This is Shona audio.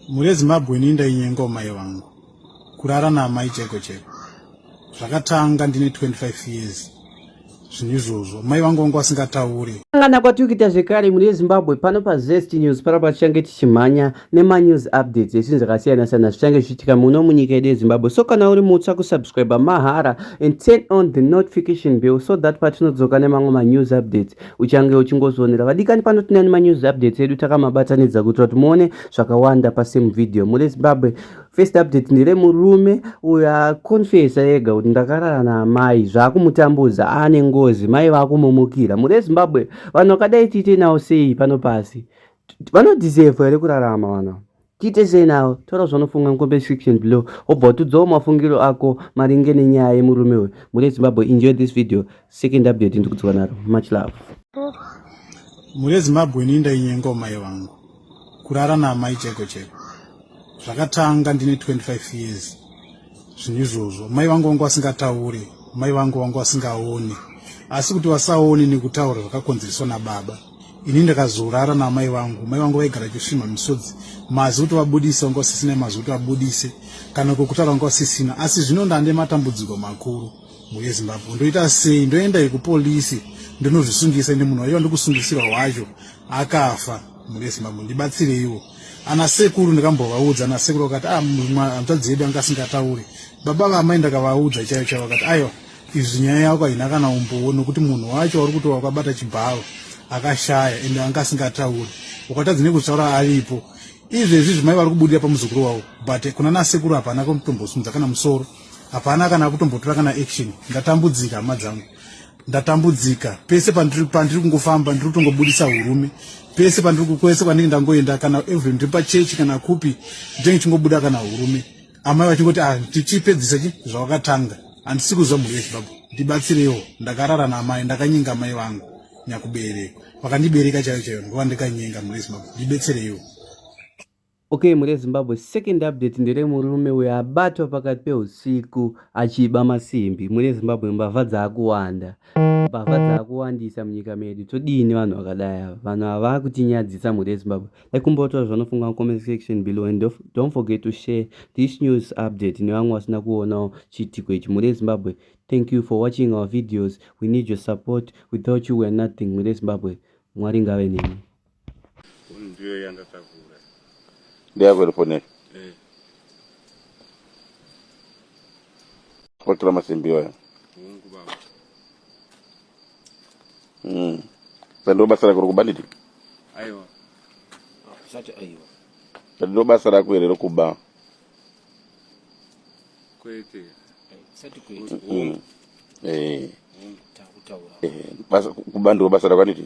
mhuri yezimbabwe ini ndainyengawo mai vangu kurara naamai cheko cheko zvakatanga ndine 25 years zvinhu izvozvo mai vangu vangu vasingatauri angana kwatiri kuita zvekare mune zimbabwe pano pazest news pano patichange tichimhanya nemanews updates esinhu zvakasiyana siyana zvichange zvichiitika muno munyika yedu yezimbabwe so kana uri mutsva kusubscribe mahara and turn on the notification bill so that patinodzoka nemamwe manews updates uchange uchingozvionera vadikani pano tinani manews updates edu takamabatanidza kuitira kuti muone zvakawanda pasame video mune zimbabwe first update ndire murume uyo aconfesa ega kuti ndakarara naamai zvaakumutambudza aane ngozi mai vaakumumukira mune zimbabwe vanhu vakadai tiite nawo sei pano pasi vanodisevha here kurarama vana Tiite sei nawo? Taura zvaunofunga mucomment section below wobva watudzawo mafungiro ako maringe nenyaya yemurume uyu. Mhuri yeZimbabwe, enjoy this video. Second update ndikudzoka naro. Much love. Mhuri yeZimbabwe, ini ndainyengawo mai vangu kurara naamai cheko cheko. Zvakatanga ndine 25 years zvinhu izvozvo. Mai vangu vangu vasingataure, mai vangu vangu vasingaone, asi kuti vasaone nekutaura zvakakonzereswa nababa. ini ndakazorara naamai vangu mai vangu vaigara chisvimha misodzi mazi kuti vabudise vanga vasisina mazi kuti vabudise kana kwekutaura vanga vasisina asi zvino ndande matambudziko makuru muye zimbabwe ndoita sei ndoenda yekupolisi ndinozvisungisa ende munhu wacho wandikusungisiwa wacho akafa muye zimbabwe ndibatsireiwo ana sekuru ndikambovaudza ana sekuru vakati ah, hanzvadzi yedu anga asingatauri baba vaamai ndakavaudza chaiyo chaiyo vakati aiwa Izvi nyaya yako haina kana umbowo nokuti munhu wacho wari kuto wakabata chibharo akashaya ende anga asingatauri ukatadzi nekuzvitaura aripo izvezvi zvimai vari kubudira pamuzukuru wavo but kuna nasekuru hapana kutombosimudza kana musoro hapana kana kutombotora kana action ndatambudzika hama dzangu ndatambudzika pese pandiri pandiri kungofamba ndiri kutongobudisa urume pese pandiri kwese kwandinge ndangoenda kana even ndiri pachechi kana kupi ndenge chingobuda kana urume amai vachingoti ah, tichipedzisa chi zvawakatanga handisi kuzwa mhuri yezvibabwa ndibatsirewo ndakarara naamai ndakanyenga amai vangu nyakubereka vakandibereka chaiyo chaiyo ndova ndikanyenga mhuri yezimbabwe ndibetsereiwo okay mhuri yezimbabwe second update ndere murume uyo abatwa pakati peusiku achiba masimbi mhuri yezimbabwe mbavha dzaakuwanda mbavha dzaakuwandisa munyika medu todii nevanhu vakadai ava vanhu ava vaakutinyadzisa mhuri yezimbabwe ekumbotora zvanofunga mucomment section below and don't forget to share this news update nevamwe vasina kuonawo chiitiko ichi mhuri yezimbabwe thank you for watching our videos we need your support without you weare nothing mhuri yezimbabwe mwari ngave nemi ndiyo yanga kavura ndeyakwerefone eh. kwatora masimbi iwayo mm. sando basa rako rokuba nditi aiwa sati aiwa sando basa rako here rokuba kwete sati kwete mm. eh. mm. eh. kuba ndiro basa rako nditi